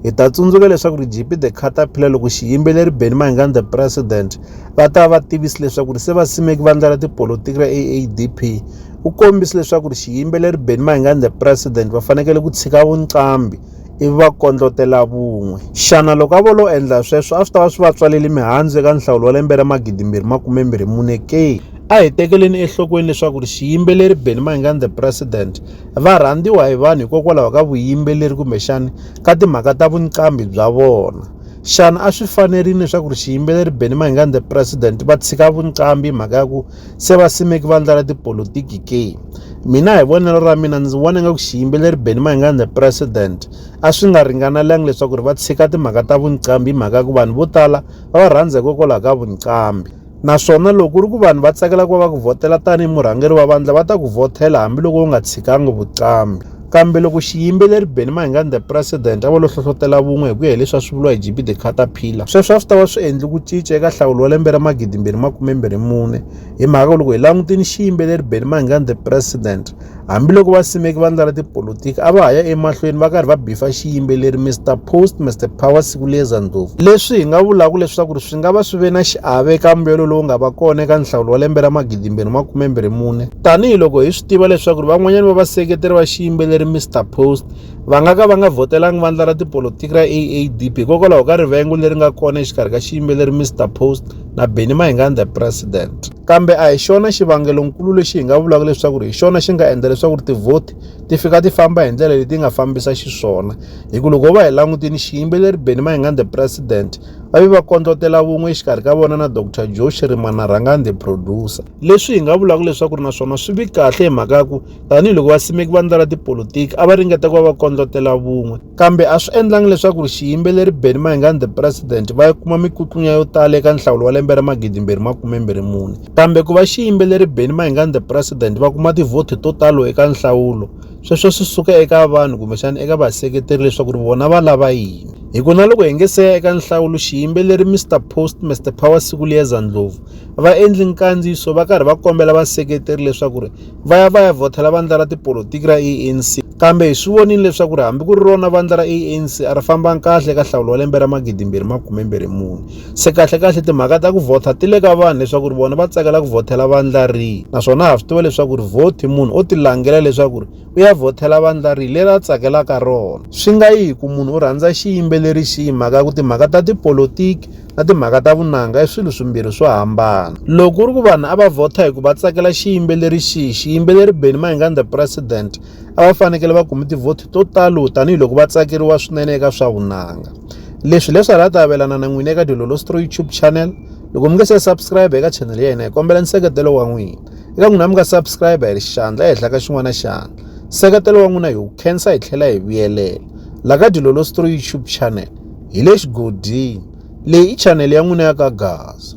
Hi ta tsundzuka leswaku ri GP The Caterpillar loko xiyimbeleri Benny Mayengani The President va ta va tivisi leswaku ri se va simeki vandla ra tipolotiki ra AADP u kombise leswaku ri xiyimbeleri Benny Mayengani The President va fanekele ku tshika vunqambi ivi va kondlotela vun'we xana loko a vo lo endla sweswo a swi ta va swi va tswaleli mihandzu eka nhlawulo wa lembe ra magidimbirhi makumembirhi mune ke a hi tekeleni enhlokweni leswaku ri xiyimbeleri Benny Mayengani The President va rhandziwa hi vanhu hikokwalaho ka vuyimbeleri kumbexana ka timhaka ta vuqambi bya vona xana a swi fanerile leswaku ri xiyimbeleri benny mahingani the president va tshika vuqambi mhaka ya ku se va simeki vandla ra tipolotiki ke mina hi vonelo ra mina ndzi vona nga ku xiyimbeleri benny mahingani the president a swi nga ringanelanga leswaku ri va tshika timhaka ta vuqambi hi mhaka ya ku vanhu vo tala va va rhandza hikokwalaho ka vuqambi naswona loko ku ri ku vanhu va tsakela ku va va ku vhotela tanihi murhangeri wa vandla va ta ku vhotela hambiloko u nga tshikangi vuqambi kambe loko xiyimbeleri beni mahingani the president a va lo hlohlotela vun'we hi ku ya hileswi a swi vuriwa hi gb the caterpillar sweswo a swi ta va swi endli ku cinca eka nhlawulo wa lembe ra magidimbirhi makumembirhi mune hi mhaka loko hi langutini xiyimbeleri beni mahingani the president Hambiloko vasimeki vandla ra tipolotiki a va ha ya emahlweni va karhi va bifa xiyimbeleri Mr Post Mr Power Sikuleza Ndlovu, leswi hi nga vulaka leswaku ri swi nga va swi ve na xiave eka mbuyelo lowu nga va kona eka nhlawulo wa lembe ra magidimbirhi makumembirhi mune, tanihi loko hi swi tiva leswaku ri van'wanyana va vaseketeri va xiyimbeleri Mr Post va nga ka va nga vhotelangi vandla ra tipolotiki ra AADP hikokwalaho ka rivengo leri nga kona exikarhi ka xiyimbeleri Mr Post na Benny Mayengani The President. kambe a hi xona xivangelonkulu lexi hi nga vulaka leswaku hi xona xi nga endla leswaku ri tivhoti ti fika ti famba hi ndlela leti nga fambisa xiswona hi ku loko va hi langutini xiyimbeleri beni mayingani the president va ve va kondlotela vun'we exikarhi ka vona na dr joe xirimana rhangani the producer leswi hi nga vulaka leswaku ri naswona swi vi kahle hi mhaka ya ku tanihiloko vasimeki va ndlela tipolotiki a va ringeta ku va va kondlotela vun'we Kambe a swi endlangi leswaku xiyimbeleri Benny Mayengani the President va kuma mikutlunya yo tala eka nhlawulo wa lembe ra magidimbirhi makumembirhi mune. Kambe ku va xiyimbeleri Benny Mayengani the President va kuma tivhoti to talo eka nhlawulo, sweswo swi suka eka vanhu kumbexana eka vaseketeri leswaku ri vona va lava yini. Hi ku na loko hi nge se ya eka nhlawulo, xiyimbeleri Mister Post Mister Power Sikuliyeza Ndlovu va endli nkandziyiso va karhi va kombela vaseketeri leswaku ri va ya va ya vhothela vandla ra tipolotiki ra ANC kambe hi swi vonile leswaku ri hambi ku ri rona vandla ra ANC a ri fambanga kahle eka nhlawulo wa lembe ra magidimbirhi makumembirhi mune se kahlekahle timhaka ta ku vhotha ti le ka vanhu leswaku ri vona va tsakela ku vhothela vandla rihi naswona ha swi tiva leswaku ri vhoti munhu o tilangela leswaku ri u ya vhothela vandla rihi leri a tsakelaka rona swi nga yi hi ku munhu u rhandza xiyimbeleri xihi mhaka ya ku timhaka ta tipolotiki na timhaka ta vunanga i swilo swimbirhi swo hambana loko ku ri ku vanhu a va vhota hi ku va tsakela xiyimbeleri xihi xiyimbeleri benny mayingani the president a va fanekele va kumi tivhoti to talo tanihiloko va tsakeriwa swinene eka swa vunanga leswi leswi hala ta avelana na n'wina eka dilolostro youtube channel loko mi nge se subscribe eka channel ya hina hi kombela nseketelo wa n'wina eka n'wina mi nga subscribe hi xandla ehenhla ka xin'wana xandla nseketelo wa n'wina hi wu khensa hi tlhela hi vuyelela la ka dilolostro youtube channel hi le xigodini. Leyi i chanele ya n'wina ya ka Gaza.